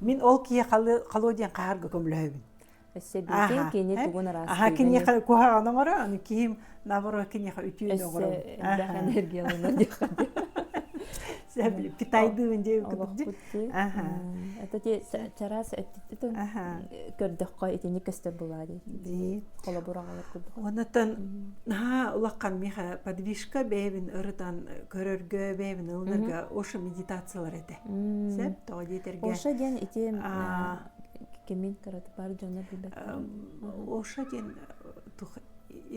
Мин ол киһи халыа диэн хаһарга көмөлөһөбүн. Эсэбиити кини тугун араас. Аха киниэхэ куһаҕан оҥоро, аны киһим наоборот киниэхэ үтүөнү оҥоро. Эсэ энергиялана диэххэ дии. Китайдыын диэн кытык. Аха. Это те чараас эттитин көрдөххө итини көстөр булаа дии. Холобураҕалар курдук. Оннотон наһаа улахан миха подвижка бэйэбин ырытан көрөргө, бэйэбин ылынарга ошо медитациялар этэ. Сөп тоҕо диэтэргэ Оша диэн ити кимин караты бар дьоно билбэттэр Оша диэн тух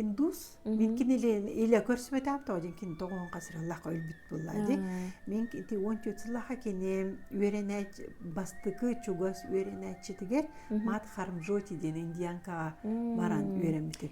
индус мин кини илэ көрсүбөтөм тоҕо диэн кини тоҕон касыраллаха өлбүт булла ди мен ити он төрт сыллаха кини үөрэнээч бастыкы чугас үөрэнээччитигэр мат хармжоти диэн индианкаға баран үөрэммитим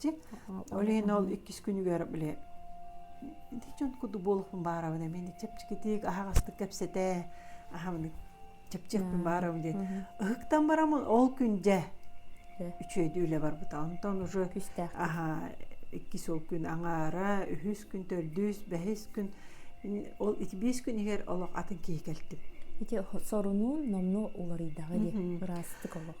Дьэ, олен ол иккис күнүгэр бile ити дьон курдук буолуохпун баарабын эмиэ чэпчэкитик аһаҕастык кэпсэтэ аһамыны чэпчиэхпин баарабын диэн ыһыктан барамын ол күн дьэ үчүөйдүү үлэ барбыта онтон уже аха иккис ол күн аҥаара үһүс күн төрдүс бэһис күн ол ити биэс күн иһигэр олох атын киһи кэлтим ити сорунуун номну уларыйдаҕы диэ ыраастык олох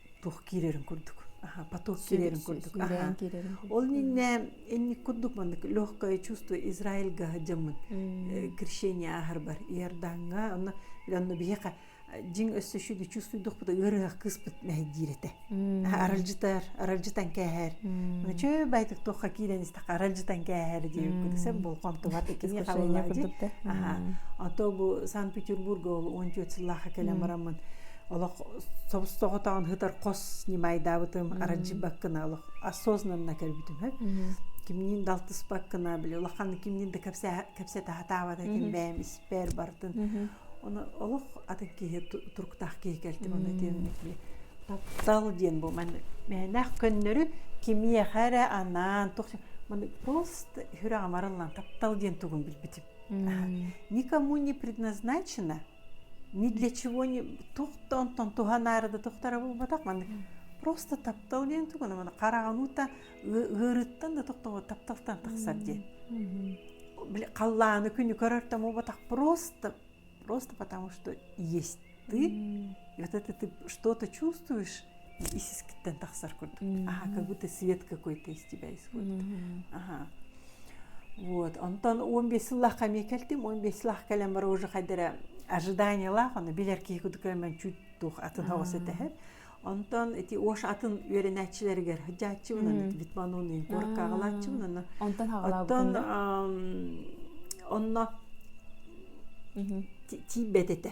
туох киирэрин курдук аха поток киирэрин курдук аха ол иннэ инник курдук маннык легкое чувство израильга дьаммын крещение ахарбар иорданга онно онно биһиэхэ дьиҥ өссө шүгі чувствуйдухпута ыарыһах кыыспыт мэһэйдиир этэ аралдьытар аралдьытан кээһэр чөө байтык туохха киирэн истэхэ аралдьытан кээһэр диэбиккэ сен болҕомтубат икини халлаадьы аха ато бу санкт петербурга он түөрт сыллаха кэлэн бараммын олох собстоҕотоҕун хытар хос ньымайдаабытым аранчыбаккына олох осознанно көрбүтүмэ кимниин далтыспаккына били улахан кимниин да кэпсэтэ хатаабат этим бэйэм испэр бартын оны олох атын киһи туруктаах киһи кэлтим оны тиэмник би таптал диэн бу ман мээнээх көннөрү кимиэхэ эрэ анаан тух маны просто хүрэ амарыллан таптал диэн тугун билбитим никому не предназначено ни для чего не туох да онтон туһанаары да тохторо буолбатах маннык просто таптал диэн тугу маны хараҕынуута ыарыыттан да тохтобо тапталтан тахсар диэн били халлааны күнү көрөртөн буолбатах просто просто потому что есть ты это ты что-то чувствуешь исискиттэн тахсар курдук аха как свет какой-то истибэйс вот аха вот онтон он бес сыллаахха эмиэ кэлтим он бес сыллаах кэлэн бара уже хайдара ожиданиялаах аны билэр киһи кудукка мен чуть туох атын хавас этэхэр онтон эти ош атын үөрэнээччилэригэр хажааччыбынан литмануны горкагалааччыбынан онтон оттон онно тиийбэт этэ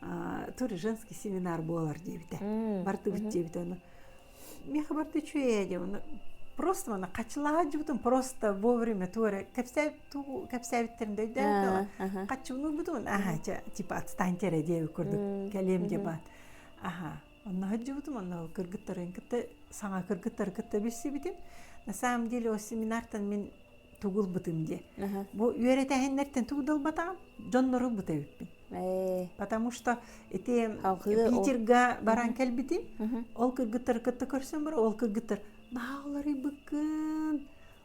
то ли женский семинар буолар диэбитэ бардыбыт диэбитэ ону миэхэ барда үчүөйэ диэ ону просто мана хачылаадьыбытым просто вовремя туора кэпсээбиттэрин дөйдөөн хаччыбын ылбытым аха типа отстаньте эрэ диэби курдук кэлиэм диэ баан аха Онна хадьыбытым, онно кыргыттарын кытта, саҥа кыргыттары кытта билсибитим. На самом деле ол семинартан мин тугулбытым дии. Бу үөрэтэһиннэртэн тугдалбатаҕым дьоннору быта үппүн. Потому что ити Питерга баран кэлбитим. Ол кыргыттары кытта көрсөн бара, ол кыргыттар наһаа уларыйбыккын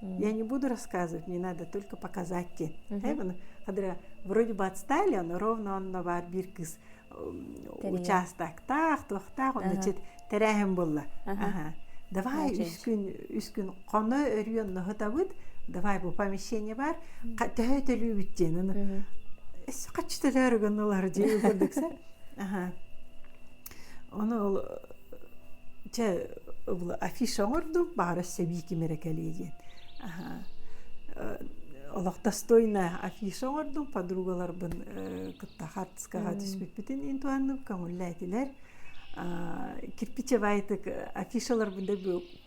Я не буду рассказывать, мне надо только показать те. Когда вроде бы отстали, но ровно онно бар бир кыз участоктаах, туохтаах, онно чет терәһем булла. Давай үс күн, үс күн хоно өрүйөн ноһытабыт, давай бу помещение бар, төһө төлүүбүт диэн. Қаччы төлөөргін олар дей көрдіксе. Ону ол чэ афиша оҥордум баара сэбии ким эрэ кэлиэ диэн олохтостойная афиша оҥордум подругаларбын кытта хаартыскаҕа түспүппүтүн иин туһанным көҥүллээтилэр кирпичевайтык афишаларбын да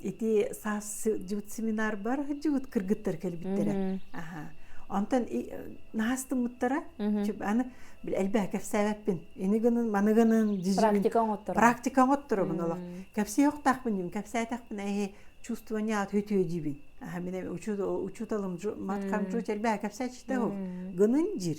ити саас сылдьыбыт семинарбар сылдьыбыт кыргыттар кэлбиттэрэ аха онтон наастыммыттара аны элбэхи кэпсээбэппин ини гынын маны гынын практика оҥотторо практика оҥотторобун олох кэпсии охтаахпын диибин кэпсээтэхпинэ эһи чувствование ответөө диибин аха мин учуталым маткам жуть элбэхи кэпсээччитэ гынын жир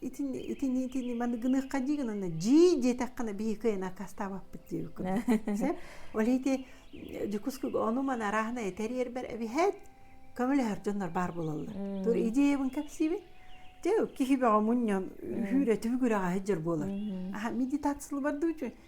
итини итини итини маны гыныахха дии гынана дьии диэтэххинэ биһи кыайан аккастаабаппыт диэбиккин сеп ол ити дьокускуга ону ман арааһына этэриэрбэр эбиһэт көмөлөһөр дьоннор баар болаллар тур идеябын кэпсиибин те киһи бөҕө мунньан үүрэ түбүгүрэҕэ һыддьыр буолар аха медитация бар дуу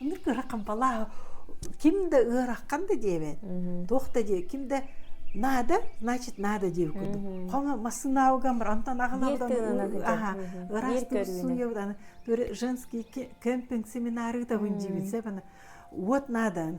Аны кыракам балаа ким да ыараххан да диэбэт. Туох да диэ ким да надо значит надо диэбит курдук. Хома массынааугамыр антан агалабыдан аха ыраастым суйабыдан женский кемпинг семинары табын дибитсе бана вот надо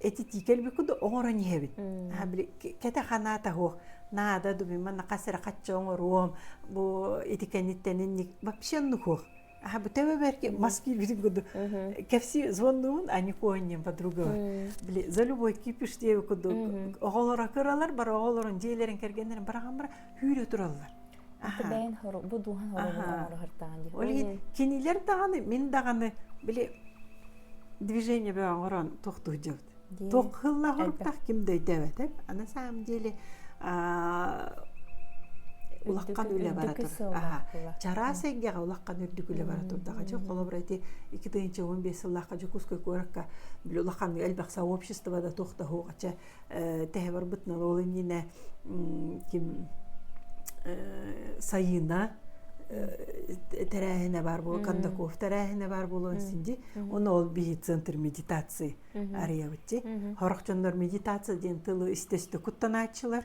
этитии кэлбикку да оҥорон иһэбин били кэтэ ханаата уһуох наада дубима нахас эрэ хачча оҥоруом бу ити кэнниттэнин вообще нухуох аха бу төбө бэрки мас киирбитин курдук кэпси звоннуун а не конним по-другому били за любой кипиш диэби курдук оҕолоро кыралар бар оҕолорун дьиэлэрин кэргэннэрин барахан бара күүрэ тураллар бэйэн бу дууһан оҥороһартаан дии ол кинилэр даҕаны мин даҕаны били движение бе оҥорон тохтууждабыт тохыллаһортах ким дөйдөөбөтөп аны саам диэли улаккан үлэ бара тур чараас эйгэҕэ улаккан үрдүк үлэ бара турдаҕа дьэ холобура ити икки тыһыынча он биэс сыллаахха дьокуускай куоракка улаккан элбэх сообщество да тохтаһуоҕача Тэһэ барбыт нарол иннинэ ким Сайыына тэрээһинэ баар буолуон, Кондаков тэрээһинэ баар буолуон синди. Оны ол бии центр медитации арыябытчи. Хорох дьоннор медитация диэн тылы истөстө куттанааччылар,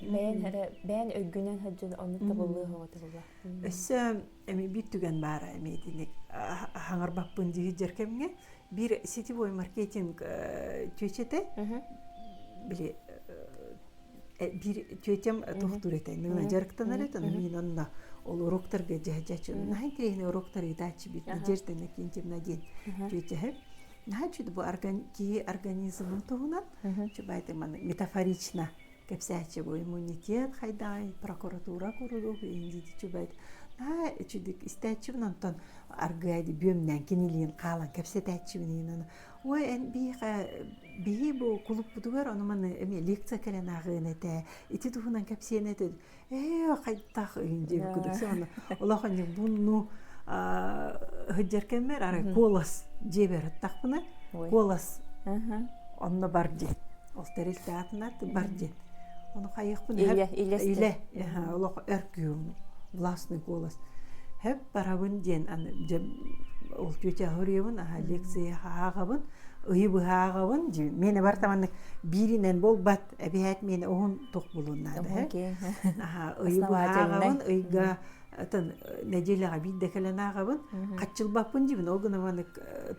Бэйэн эрэ бэйэн өйгүнэн сылдьан оннук табыллыах оҕо табылла. Өссө эми биир түгэн баара эми итиник хаҥарбаппын дьиһирдьэр кэмҥэ биир сетевой маркетинг чүөчэтэ били биир чүөчэм тохтуур этэ иннигинэ дьарыктанар этэ мин онно ол уруктарга дьэһдьэчү наһаа интересный уруктар ыытааччы биир деждана кинчемна диэн чүөчэһэ наһаа үчүгэй бу киһи организмын туһунан чубайты маны метафорично кэпсээччи иммунитет хайдаҕай прокуратура курулук индити чубайт наһаа үчүдүк истээччибин онтон аргыайды бүөмнээн кинилиин хаалан кэпсэтээччибинин ой эн биһиэхэ биһи бу кулуппутугар ону маны эмиэ лекция кэлэн ааҕыан этэ ити туһунан кэпсиэн этэ ээ хайдах иһин диэбит курдук саана олох ньукбунну сылдьар кэммэр арай куолас дьиэбэр аттахпына куолас онно бар диэн ол тэрилтэ аатынан бар диэн ону хайыахпын илэ олох өр күүм властный голос хэп барабын диэн ол тетя хуриебын аха лекция ааҕабын ыйы быһа ааҕабын дии мене бар таманнык бииринэн буолбат Эбиһээт миэнэ уһун тух булун наада. Ыйбаатаҕын ыйга атын нэдиэлэҕэ биир да кэлэн ааҕабын. Хаччылбаппын дибин ол гына манык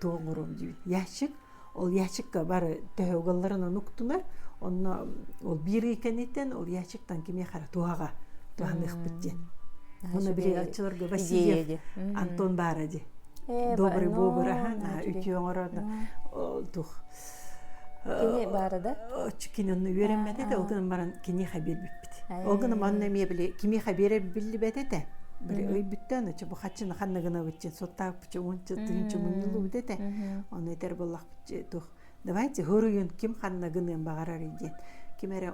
туоңурум дибин. Ящик ол ящикка бары төһө угалларын онуктунар. Онно ол биир ый кэниттэн ол ящиктан кими хара туһаҕа туһаныахпыт диэн. Оны били аччыларга Васильев Антон баара ди. Добрый бобр ахан үтүө оҥорон тух Кини баара да? Кини онно үөрэммэт этэ, ол гынан баран киниэхэ биэрбиппит. Ол гынан манна эмиэ били кимиэхэ биэрэр биллибэт этэ. Били өйбүттэн ычча бу хаччына ханна гынабытчыт, суоттааппычы уонча тыынчы мунньуллубут этэ. Ону этэр буоллахпыт туох давайте хоруйун ким ханна гыныан баҕарар диэн. Ким эрэ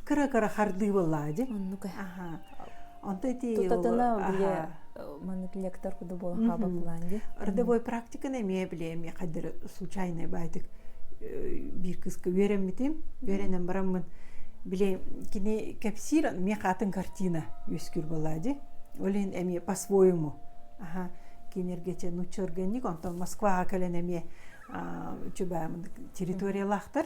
кыра-кыра хардыы буоллаа дьи оннук аха онто ити тутатына биле маннык лектор куду була хаба план ди родовой практиканы эмиэ биле эмиэ хаддары случайный байтик биир кыска үөрэммитим үөрэнэн бараммын биле кини кэпсиир мie хаатын картина үөскүүр буоллаа ди олен эмиэ по своему аха кинергече нучча органик онтон москваҕа кэлэн эмиэ чубаамын территориялаахтар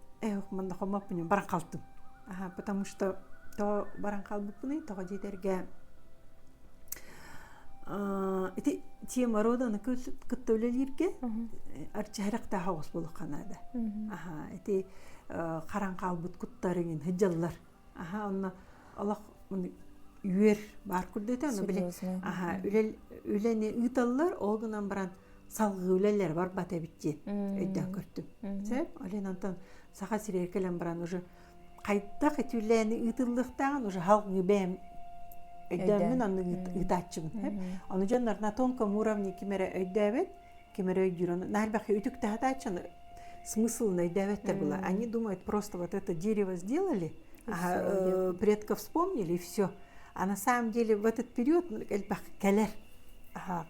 Эх, манна хомоппунньун баран хаалтым. Аһа, потому что то баран хаалбыппыный, тоҕо диэтэргэ ити тема роданы кытта үлэлииргэ арчыһарактаах оҕус булуха наада. Аха, ити харан хаалбыт куттарыҥын һыдьаллар. Аха, онно олох үөр баар курдута, ону били аха, үлэни ыыталлар, ол гынан баран салгыы үлэлэри барбат эбит дии өйдөөн көрдүм. Сөп? Олен Антон Саха сиригэ кэлэн баран уже хайдах эти үлээни ыытыллыахтааҕын уже халгы бэйэм өйдөоммүн онно ыытааччыбын. Ону дьоннор на тонком уровне ким эрэ өйдөөбөт, ким эрэ өйдүүр. Наһарбахы үтүк тахатааччыны смысл найдавать-то было. Они думают просто вот это дерево сделали, ага, предков вспомнили и все. А на самом деле в этот период элбэх кэлэр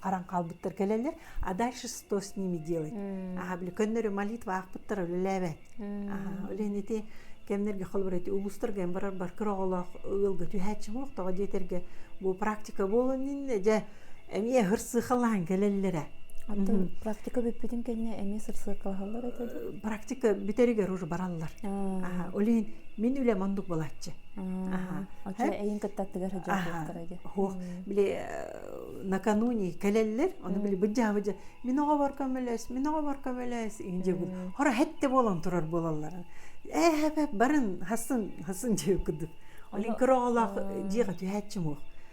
қаран қалбыттар кэлелер а дальше что с ними делать аха били көннөрү молитва аахпыттар үлэлээбэт оленити кемнерге холборити улустарга эм барар бар кыроголох ыылга түһээччи боқ тоҕо диэтерге бу практика болон инне же эмиэ сырсыыкалаан кэлэллэрэ оттон практика бүппүтүн кэннэ эмиэ сырсыыкалаһаллар этэ практика бүтэригэр уже бараллар олин мин үлэм ондук буолаччы эйин кытта аттыгар сыдьааттара ди хуох били накануне кэлэллэр ону били быдьаабыдьа мин оҕобор көмөлөс мин оҕобор көмөлөс инжегул хора хэтте буолан турар буолаллар эһэпеп барын хасын хасын дьиэ курдук олин кыроҕолоох дьиэҕэ түһээччи муох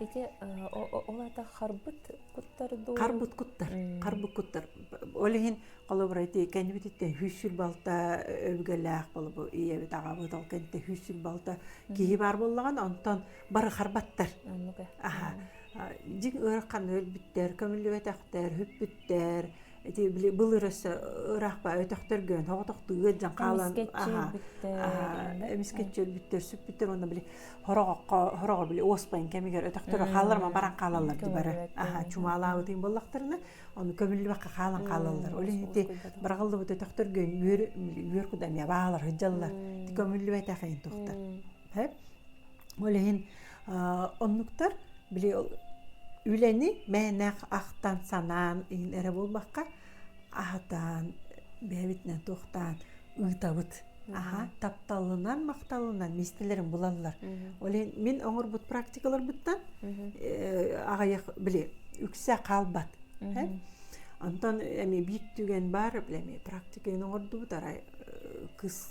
Ити ол ата харбыт куттар дуу? Харбыт куттар, харбыт куттар. Ол иһин холобура ити кэннибититтэн сүүс балта өбүгэлээх болбу ийэбит аҕабыт ол кэнтэ сүүс балта киһи баар боллаган онтон бары харбаттар. Аха. Дьиҥ ыарахан өлбүттэр, көмүллүбэтэхтэр, хүппүттэр, ити били былыр өссө ыраахпа өтөхтөргө тоҕотохтууга дьон хаалан эмискэччи өлбүттэр сүппүттэр онно били хороҕоххо хороҕо били оспайын кэмигэр өтөхтөрө хаалларма баран хаалаллар дибары аха чумаалаабытын боллохторуна ону көмүллүбэккэ хаалан хаалаллар ол иһити быраҕыллыбыт өтөхтөргө үөр үөр куда эмиэ баалар ыдьаллар көмүллүбэтэх иин тухтар ол иһин оннуктар били үлэни мээнэх ахтан санаан иһин эрэ буолбакка аһатаан бэйэбитинэн туохтаан ыытабыт аха тапталынан махталынан миэстэлэрин булаллар ол иһин мин оҥорбут практикаларбыттан аҕыйах били үксэ хаалбат онтон эми биир түгэн баар эми практиканы оҥордубут арай кыс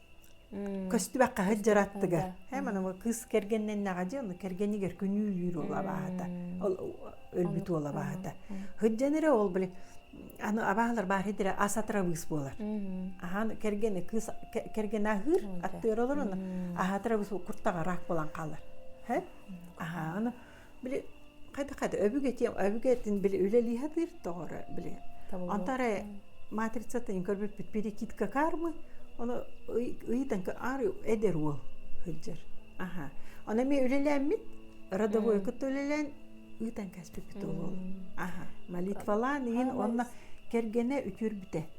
көстүбэккэ сылдьар аттыгар һэ манамы кыыс кэргэннэннэҕэ дии ону кэргэнигэр күнүүлүүр уол абааһыта ол өлбүт уол абааһыта сылдьан эрэ ол блин аны абааһылар баар идэрэ ас атырабыыс буолар аһаан кэргэнэ кыыс кэргэнэ аһыыр аттыар олорон аһатырабыыс куртаҕа ыраах буолан хаалар һэ аһааны били хайда хайда өбүгэтиэм өбүгэтин били үлэлиһатыыр тоҕоро били онтары матрицатын көрбүппүт перекидка кармы ону ыйытан аар эдэр уол сылдьар аха ону эмиэ үлэлээммит родовой кытта үлэлээн ыытан кэспиппит ол аха молитвалаан иһин онно кэргэнэ үтүрбүтэ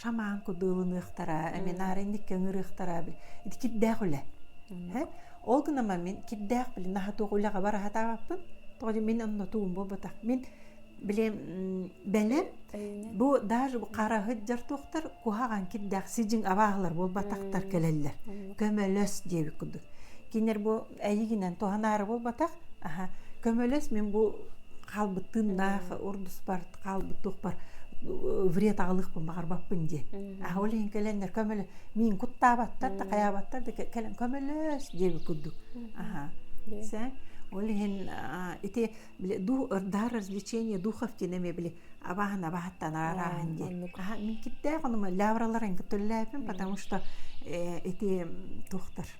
шаман кудуылыныахтара минаары инникке ыҥырыахтара ити кирдээх үлэ ол гынан мин кирдээх билин наһа туох үлэҕэ бар аһатаабаппын тоҕо мин оннотуум буолбатах мин билем бэлэм бу даже бу хараһыт жартуохтар куһаҕан кирдээх сижин абааһылар буолбатахтар кэлэллэр көмөлөс диэбит курдук кинер бу Эйигинэн туһанаары буолбатах, аха, көмөлөс мин бу хаалбыт тыыннаах урдуспар хаалбыт туохпар вред аҕалыахпын баҕарбаппын диэн. Аха ол иһин кэлэннэр көмөлө миин куттаабаттар да хайаабаттар да кэлэн көмөлөс диэбит курдук. Аха. Сэ ол иһин ити били дух ырдаар развлечение духов диэн эмиэ били абааһын абаһаттан араарааһын диэн. Аха мин киттээх онума лавраларын көтөллөөпүн потому что ити тухтар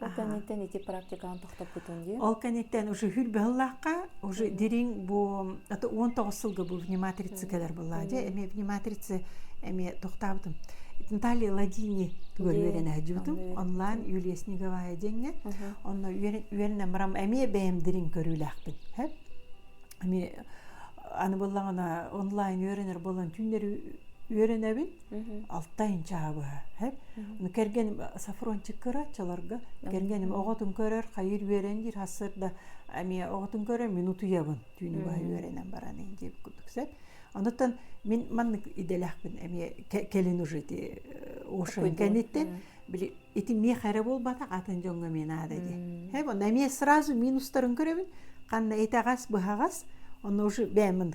Ол кэнниттэн ити практикаҕын тохтоппутун дии. Ол кэнниттэн уже хүрбэһыллаахха, уже дириҥ бу это он тоҕус сылга был внимательцикалар была дьэ эмиэ внимательцы эмиэ тохтаабытым. Наталья Ладини тугар үөрэнэ дьутум онлайн Юлия Снеговая диэҥҥэ онно үөрэнэ мрам эмиэ бэйэм дириҥ көрүүлээхпин хэп эми аны быллаҕына онлайн үөрэнэр болон түүннэри үөрэнэбин алта инчаҕа быһа кэргэним сафрончик кыраччаларга кэргэним оҕотун көрөр хайыр үөрэн диир хассыр да эмиэ оҕотун көрөр мин утуйабын түүнү баһа үөрэнэн баран дии курдук сет онутан мин маннык идэлэхпин эмиэ кэлин уже ити ошен кэнниттэн били ити миэх эрэ буолбатах атын дьоҥҥо мин аада дии һэм онно эмиэ сразу минустарын көрөбүн ханна итэҕэс быһаҕас онно уже бэйэмин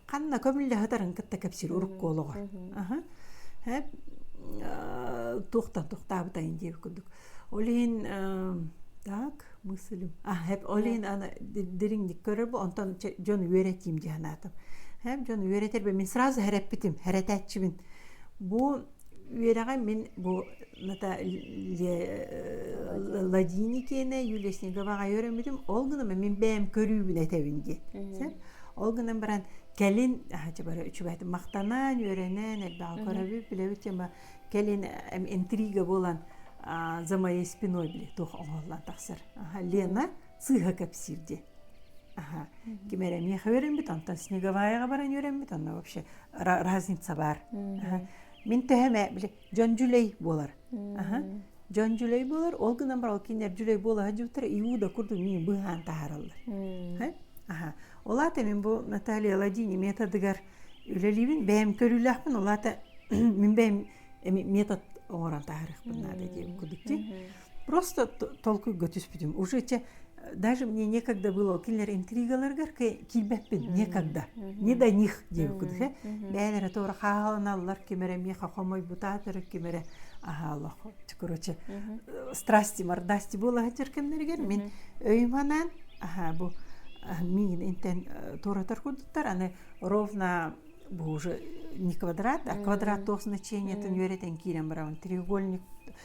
ханна көмүллэһитарын кытта кэпсиир урукку олоҕор туохтан тохтаабытайын диэбит курдук ол иһин так мыслим ол иһин аны дириҥник көрөр бу онтон дьон үөрэтиим дии санаатым дьон үөрэтэр мин сразу эрэппитим эрэтээччибин бу Үөрэҕим мин бу ната Ладини киэнэ Юлесниковаҕа үөрэммитим. Ол гынан мин бэйэм көрүүбүн этэбин диэн. Сөп? Ол гынан баран кэлин дьабара үчүгээтик махтанан, үөрэнэн элбэҕи көрөбүт, билэбит тема кэлин интрига буолан за моей спиной били туох оҥоһуллан тахсар. Лена сыыһа кэпсиир диэн. ким эрэ миэхэ үөрэммит онтон снеговаяҕа баран үөрэммит онно вообще разница баар мин төһөм ээ били дьон дьүлэй буолар дьон дьүлэй буолар ол гынан баран ол кинилэр дьүлэй буола сылдьыбыттара иуда курдук миин быһаан таһаараллар ол аата мин бу наталья ладини методыгар үлэлиибин бэйэм көрүүлээхпин ол аата мин бэйэм метод оҥорон таһаарыахпын наада диэбит курдук дии просто толкуйга түспүтүм уже те даже мне некогда было кинилэр интригаларыгар киирбэппин некогда не до них диэбиккин бэйэлэрэ туора хааланаллар ким эрэ миэхэ хомойбута төрүк ким эрэ аһаалах короче страсти мордасти буолаһытыр кэмнэригэр мин өйүм анаан аха бу миин интен туоратар курдуктар аны ровно бу уже не квадрат а квадрат туох значениятын үөрэтэн киирэн барабын треугольник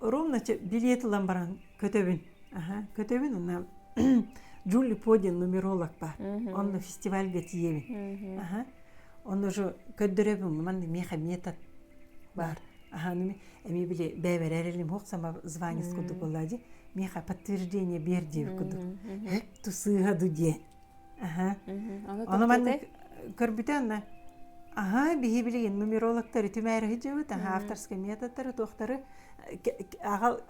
ровно билет ылан баран көтөбүн көтөбүн ана джули по диэн нумеролог баар онно фестивальга тиийэбин онно же көрдөрөбүн манна миэхэ метод баар эми били бэбэрэр элим хохсама звание курдук буолла ди миэхэ подтверждение бер диэбит курдук эп тусыыха ду диэн Ону маннык көрбүтэ анна аһа биһи билигин нумерологтары түмээри сылдьыбыт аха авторскай методтары туохтары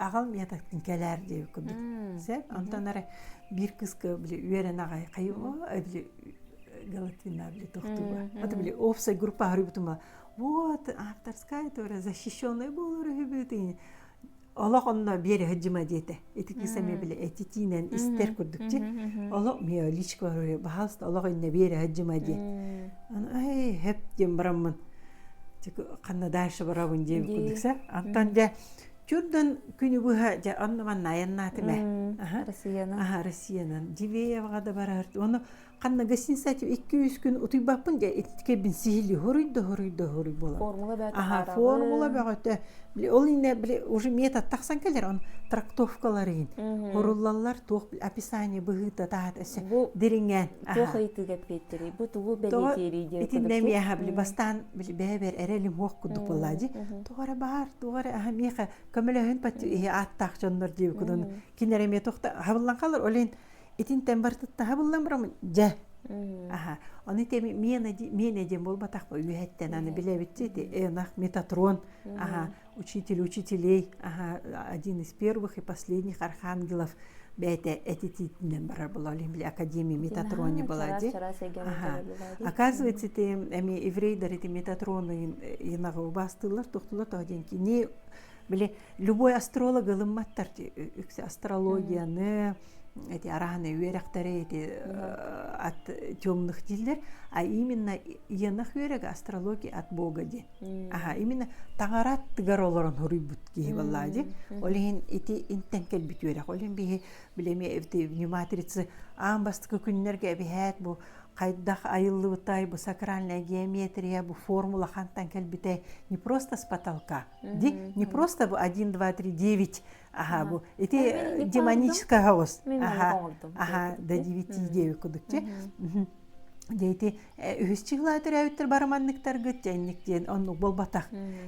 аҕал методтын кэлээр диэби курдук сеп онтон ары биир кыска били үөрэн аҕай хайыма били Галатина били тохтуба ата били опсай группа харуйбутума вот авторская тоже защищенная болар үһүбүт олох онно биэре сыдьыма диэтэ ити киса эмиэ били этитиинэн истэр курдук дьин олох миа личка орой баһалста олох инне биэре сыдьыма диэт ай хэп диэн бараммын ханна дальше барабын диэн курдукса антан дьэ Чурдан күнү быһа дьэ оннуман найаннаатыме Россиянан аха Россиянан Дивееваға да барар оны ханна гостиницаҕа икки-үс күн утуйбаппын дьэ кэлбин сиһилии хоруйда хоруйда хоруй буолан формула бөҕөтө формула бөҕөтө ол иннэ били уже метод тахсан кэлэр он трактовкаларын оруллаллар туох описание быһыыта таһата эссе дириҥээн туох ыйтыы кэппиэттерий бу тугу бэлиэтиэрий диэн итиннэ миэхэ били бастаан били бэйэбэр эрэлим уох кудук булла ди тугара баар тугара аха миэхэ көмөлөһөн пати иһи ааттаах дьоннор диэбиккун кинереме тохта хабыллан қалар олен итинтэн барытыттаһа буллаҥ барамын дьэ аха ону ити мен один буолбатах бо үөһэттэн аны билэбитчи ити ынах метатрон аха учитель учителей аха один из первых и последних архангелов бэйэтэ этитиитинэн барар бололин били академия метатрони была ди оказывается ти эми еврейдер эти метатроны инага убастылар тухтулар то ден кини били любой астролог ылымматтар үксе астрологияны эти арааны үөрэхтэрэ эти от темных диллер а именно иенах үөрэг астрология от бога диэн аха именно таҥара аттыгар олорон хоруйбут киһи боллаа ди ол иһин ити интен кэлбит үөрэх ол иһин биһи билэми эти внимательцы аан бастакы күннэргэ эбиһээт бу хайдах айыллыбытай бу сакральная геометрия бу формула хантан кэлбитэй не просто с потолка ди не просто бу один два три девять аха бу ити демоническая ос аха аха да дивити диэби кудукчи дьэ ити үһүс чыгла төрөөбүттэр бараманныктаргыт тенник диэн оннук болбатах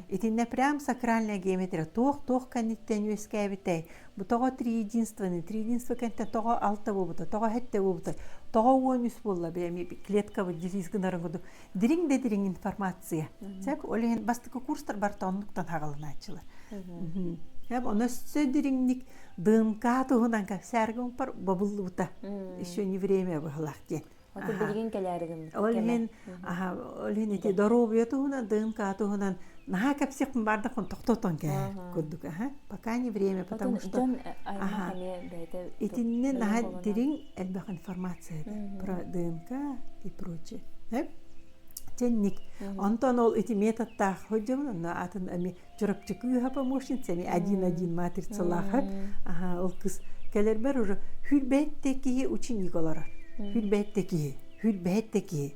итиннэ прям сакральная геометрия туох туох кэнниттэн үөскээбитэй бу тоҕо триединствоны триединство кэнтэн тоҕо алта буобута тоҕо хэтте буобута тоҕо уон үс буолла бэми клетка дилиз гынарын кудук дириҥ да дириҥ информация. Цак олен бастакы курстар бар тоннуктан хагалынааччылар. Оны өссө дириҥник ДНК туһунан как сәргімпар бабыллыбыта. Еще не время быһылақ диэн. Аты билигин кэләрігін. Олен, олен эти доробия туһунан, ДНК туһунан наха кепсихпин барда кон токтотон кээ курдук аха пока не время потому что итинне наха дириҥ элбэх информация этэ про ДНК и прочее тенник онтон ол ити методтаах сылдьыбын онно атын эми чурапчы кыыһа помощница эми один один матрицалаахат ол кыз кэлэрбэр уже хүрбэйтте киһи ученик олорор хүрбэйтте киһи хүрбэйтте киһи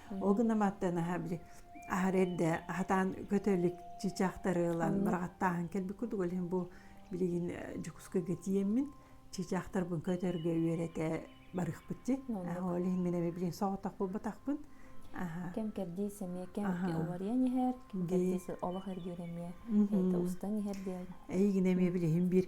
Ол гына маттан аха били аһар эрде аһатаан көтө илик чычахтары ылан бырагаттааһын кэлбиккут иһин бу билигин Дьокуускайга тиийэммин чычахтарбын көтөргө үөрэтэ барыахпыт дии. Ол иһин мин эми билигин соҕотох булбатахпын. Кэм-кэрдии сэмиэ кэм уларыйан иһэр, кэм-кэрдии олох эргиир эмиэ устан иһэр диэн. Эйигин эмиэ билигин биир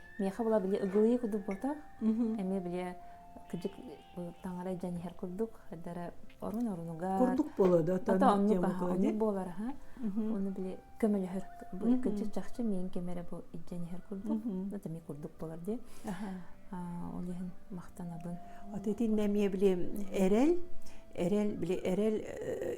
миэхэ була били ыгылыйы кудук ботох эмиэ били кыдьык таҥара дьэн иһэр курдук эрдэрэ орун орунугар курдук болода ата оннук оннук буолар аха ону били көмөлөһөр кыдьык чахчы миэн кемере бу идден иһэр курдук ата ми курдук болар ди ол иһин махтанабын от итинне эмиэ били эрэл эрэл били эрэл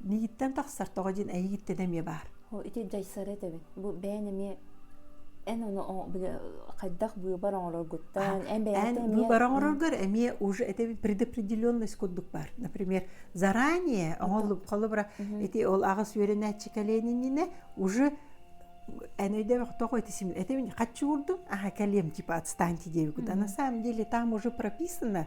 Нигиттен тахсар тоҕо дин эйигиттен эмиэ баар. О ити дьайсары этэбин. Бу бээн эмиэ эн ону хайдах быыбар оҥороргуттан эн бэйэҕиттэн эмиэ быыбар оҥороргор эмиэ уже этэбин предопределенность курдук бар. Например заранее оҥоллуб холобура ити ол аҕыс үөрэнээччи калиэнининэ уже эн өйдөбөх тоҕо ити сим этэбин хочу курдум аха калем типа отстаньте девигут а на самом деле там уже прописано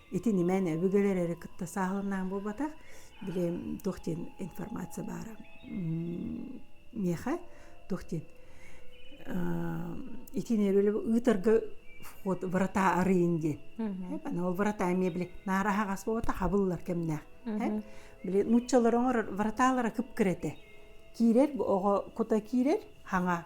Ити нимээн өбүгэлэр эрэ кытта сааһыланаан буолбатах. Били туох диэн информация баара миэхэ туох диэн итини эрэлэ ыытарга вход врата арыйын диэн ол врата эмиэ били наар аһаҕас буолбата хабыллар кэмнээх били нууччалар оҥорор враталара кып кирэтэ киирэр оҕо кута киирэр хаҥа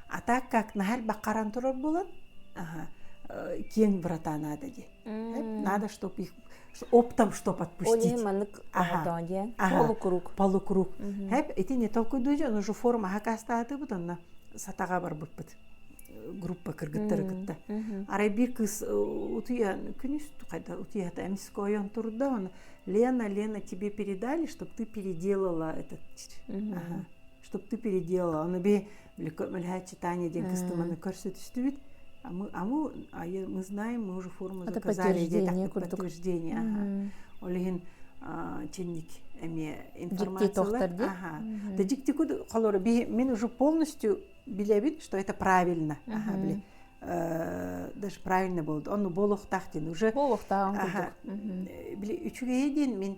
А так как наһар баккаран турар буолан киэҥ врата надо диэн. Надо чтоб их оптом чтоб отпустить. Они маннык ага. диэн полукруг. Полукруг. Хэп ити не толкуйдуу дьэ ону же форма хакастаатыбыт онна сатаҕа барбыппыт группа кыргыттары кытта. Арай биир кыз утуйан күнүс хайда утуйата эмискойон турда оны Лена Лена тебе передали чтоб ты переделала этот. Ага. чтобы ты переделала аны би мөлөһөөччү Таня диэн кыстыманы көрсө түстүбүт а мы а мы а мы знаем мы уже форму заказали где подтверждение ол иһин чинник эмиэ информациялар ага да диктикуд холору би мен уже полностью билебит что это правильно ага били даже правильно болды ону болохтаах диэн уже болохтааҕын курдук били үчүгэйи диэн мен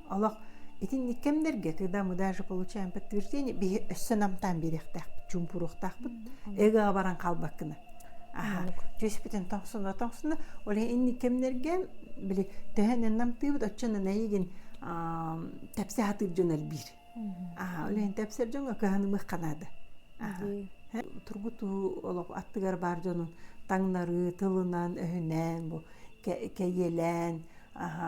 олох итинник кэмнэргэ когда мы даже получаем подтверждение биһи өссө намтаан биэриэхтээхпит чуумпуруохтаахпыт эгэҕэ баран хаалбаккына аха түөспүтүн тоҥсуна тоҥсуна оле инник кэмнэргэ били төһөнөн намтыыбыт отчуонан эйигин тэпси хатыыр дьон элбиир аха олен тэпсэр дьоҥо кыһанымых канада тургутуу олох аттыгар баар дьонун таҥнары тылынан өһүнэн бу кэйиэлээн аха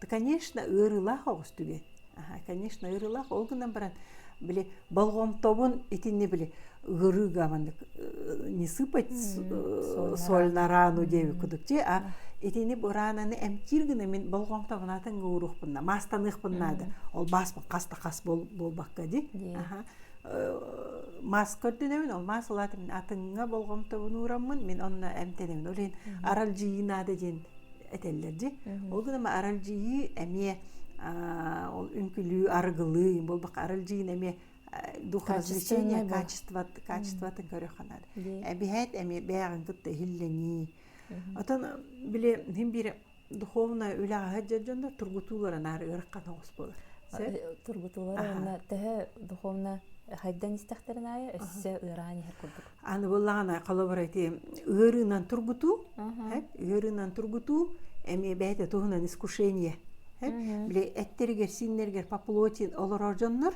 да конечно ыарыылаах оҕус түгэн аха конечно ыарыылаах ол гынан баран били болҕомтобун итинни били ыарыыга маннык не сыпать сольнорану диэби кудук чи а итини бураананы эмтиир гына мин болҕомтобунатын гууруухпунна маастаныахпун наада ол бааспын хаста хас буолбакка ди аха маас көрдөнөмүн ол маас ылаатым атыңа болҕомтобун уураммын мин онно эмтенэбин ол иһин аралдьыйыы наада диэн этэллэр дии. Ол гынан аралдьыйыы эмиэ ол үҥкүлүү, арыгылыы, буолбак аралдьыйын эмиэ дух развлечения качествот качествотын көрөханар. Эбиһэт эми бэйэҕин кытта иһиллэнии. Отон били хин биир духовная үлэҕэ дьонно тургутуулара наар ырахан оҕус болар. Тургутуулара онна төһө духовна хайдан истэхтэрин айы өссө ыараан иһэр курдук. Аны быллаҕана, холобур, эти ыарыынан тургутуу, ыарыынан тургутуу эмиэ бэйэтэ туһунан искушение. Били эттэригэр, сииннэригэр поплотин олорор дьоннор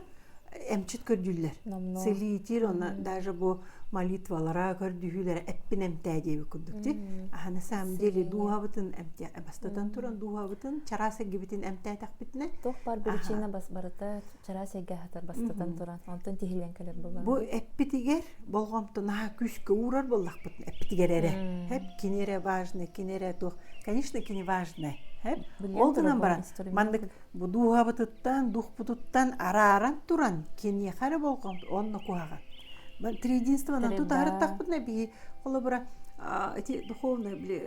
эмчит көрдүллэр. Целиитир, онно даже бу молитвалара, көрдүһүүлэрэ эппин эмтээ диэбит курдук ти. А на самом деле дууһабытын эмтээ, бастатан туран дууһабытын чараас эггибитин эмтээтэхпитинэ. Туох бар причина бас барыта чараас эйгэ хатар бастатан туран онтон тиһилэн кэлэр буолар бу эппитигэр болҕомтунаха күүскэ уурар боллахпыт эппитигэр эрэ эп кини эрэ важно кини эрэ туох конечно кини важно эп ол гынан баран маннык бу дууһабытыттан духпутуттан арааран туран киниэхэ эрэ болҕомто онно куһаҕан триединствонан тутаарыттахпытына бии холобура эти духовные били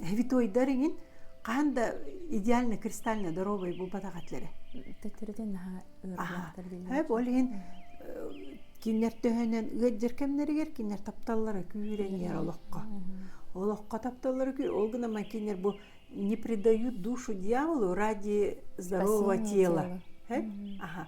хвитоидар иҥин хаан да идеально кристально здоровый булбатах атлere төттөрүтүн наһаа ырыаттар ол иһин кинилэр төһөнөн ыаддыр кэмнэригэр кинилэр тапталлара күүрэнийэр олоххо олоххо тапталлара күүр ол гына ман кинилер бу не предают душу дьяволу ради здорового тела аха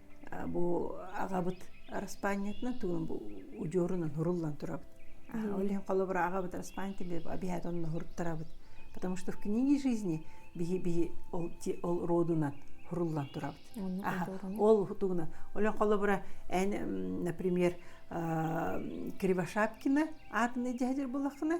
бу аҕабыт араспаанньатынан тугун бу удьуорунан хуруллан турабыт олен холобура аҕабыт араспаанньатыгар обязательно онно хуруттарабыт потому что в книге жизни биһи биһи ол ол родунан хуруллан турабыт ол тугуна олен холобура эн например кривошапкина аатынай дьэһдир булаххына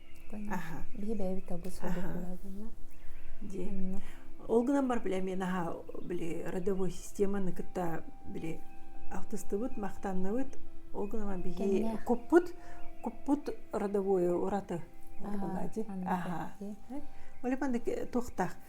ол гынан бар били мен аха били родовой системаны кытта били алтыстыбыт махтанныбыт ол гынан биһи куппут куппут родовое ураты аха оле мандайы туохтаах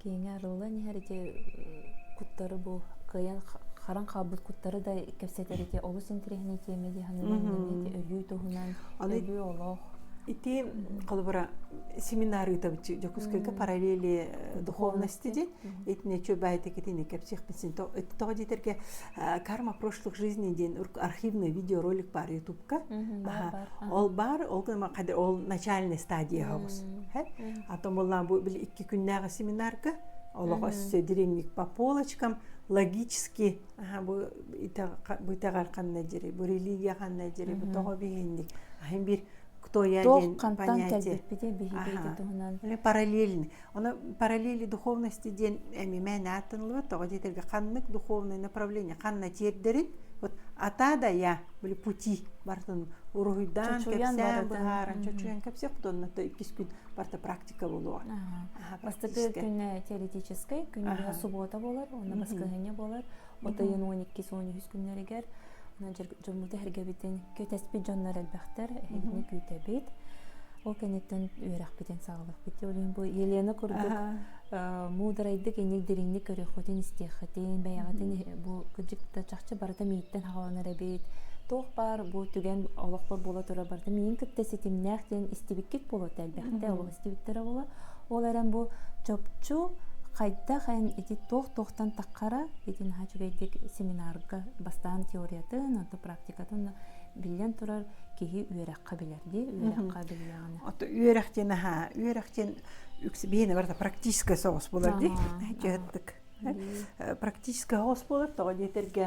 киэҥэ арыллан иһэр ити куттары бу кыайан харан хаалбыт куттары да кэпсэтэр ити олус интэриэһинэй тиэмэ дии саныыбын ити өлүү туһунан өлүү олох ити холобура семинар ыытабычы Дьокуускайга параллели духовности диэн итинечө баайтекитини кэпсиэхпитсин тоҕо диэтерге карма прошлых жизни диэн архивный видеоролик бар ютубка ол бар ол ол начальный стадияһабыз а то буллан бу бил икки күннээҕи семинарга олох өссө диренник по полочкам логически бу итэҕэр ханна дири бу религия ханна дири бу тоҕо биһинник ахын бир кто я ден понятие параллельный Оно параллели духовности диэн эми мээнэ ааттанылбат тоҕо диэтэргэ ханнык духовное направление ханна тиэрдэрин вот атаадая били пути бартын уруһуйдаан кэпсээн быһааран чочуйан кэпсиэх онно иккис күн барта практика болуо бастакы күнэ теоретическай күн суббота болар онно баскыһыня болар Батайын он иккис он үһүс күннэригэр дьоммут эргэбитин кэтэспит дьоннор элбэхтэр эһигини күүтэбит ол кэнниттэн үөрэхпитин саҕалыахпыт ол иһин бу Елена курдук муударайдык инник дириҥник көрүөххүтүн истиэххитин бэйэҕитин бу кырдьык да чахчы барыта мииттэн хаҕаланар эбит туох баар бу түгэн олохпор буола турар барыта миин кытта ситимнээх диэн истибиккит буолуо элбэхтэ ол истибиттэр оҕолор ол эрэн бу чопчу хайдах эн ити туох туохтан таххара ити наһаа үчүгэйдик семинарга бастаан теориятын онто практикатын биллэн турар киһи үөрэххэ билэр дии үөрэххэ биллэҕинэ үөрэх диэн аhaa үөрэх диэн биһиэнэ барыта практическай соҕус булар дии дьыһыттык практическай соҕус булар тоҕо диэтэргэ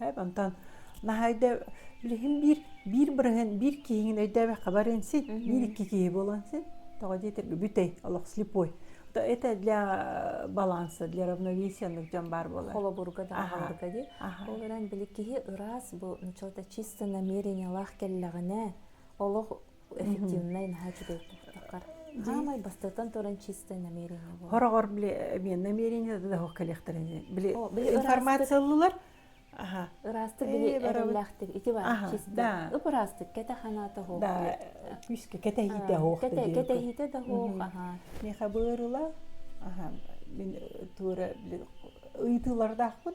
Эп, онтон наһайда билигин биир биир бырыһын биир киһиҥин өйдөөбөххө барыан син биир икки киһи буолуон син тоҕо диэтэр үгүтэй олох слепой то это для баланса для равновесия оннук дьон баар буолар холобурга да аһаларга дии ол эрэн били киһи ыраас бу началта чисто намерениелаах кэллэҕинэ олох эффективнай наһаа үчүгэй тохтоххор хаамай бастатан туран чисто намерение буолар хороҕор били мен намерение да ох кэлиэхтэрин били информациялылар аха ыраастык били эрэллээхтик ити бар чисто ыпыраастык кэте ханаата хоох да күүскэ кэтэһиитэ хоох кэтэһиитэ да хоох аха меха быырыла аха мин туора били ыйтыылардаахпын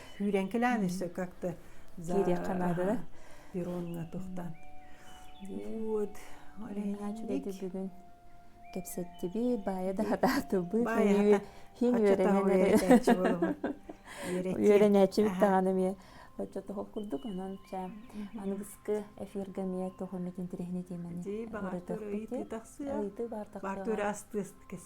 сүүрэнкилээн өссө как-то кириэххэ наадада перроҥҥа тохтон вот олейнанник бүгүн кэпсэттиби баайа да атаатыбыт хин үөрэнээччи болугун үөрэнээччибит даҕаны эмиэ оччо тоһох курдук онон ча аныгыскы эфиргэ эмиэ тоһу метин тирэхини тиэмэни ырытыхпыт ыйытыы бар тахсыа астыас кэс